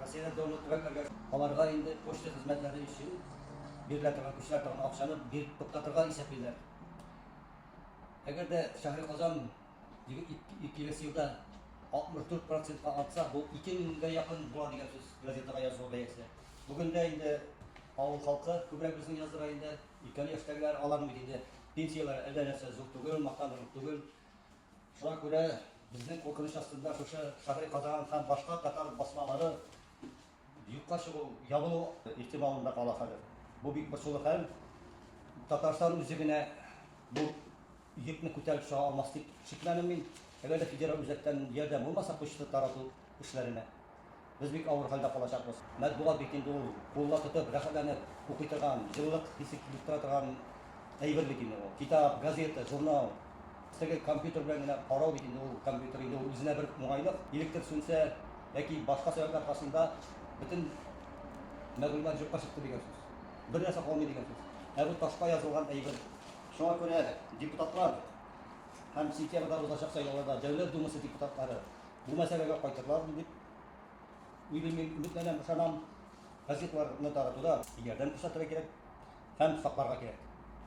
Россиядә донор түгәрәкләргә аларга инде почта хезмәтләре өчен бирелә торган күченә торган акчаны биреп туктатырга исәплиләр. Әгәр дә Шәһри Казан киләсе елда 64 процентка артса, бу 2 меңгә якын була дигән сүз газетага язылу бәясе. Бүген дә инде авыл халкы, күбрәк безнең яздыра инде, өлкән яшьтәгеләр, аларның бит инде пенсияләре әллә нәрсә зур түгел, мактанырлык түгел. Шуңа күрә безнең куркыныч астында шушы Шагыйрь Казан һәм башка татар басмалары юкка чыгу, ябылу ихтималында кала хәзер. Бу бик борчулы хәл. Татарстан үзе генә бу йөкне күтәреп чыга алмас дип шикләнәм мин. Әгәр дә федераль үзәктән ярдәм булмаса почта тарату эшләренә. Без бик авыр хәлдә калачакбыз. Матбугат бит инде ул кулда тотып, рәхәтләнеп укый торган, җылылык хисе килеп тора торган әйбер бит инде ул. Китап, газета, журнал. Теге компьютер белән генә карау бит инде ул, компьютер инде ул үзенә бер уңайлык. Электр сүнсә яки башка сәбәпләр аркасында бөтен мәгълүмат юкка чыкты дигән сүз. Бер нәрсә калмый дигән сүз. Ә бу ташка язылган әйбер. Шуңа күрә депутатлар һәм сентябрьдә узачак сайлауларда Дәүләт Думасы депутатлары Бу мәсьәләгә кайтырлардыр дип уйлыйм мин, өметләнәм, ышанам. Газетларны таратуда ярдәм күрсәтергә кирәк һәм сакларга кирәк.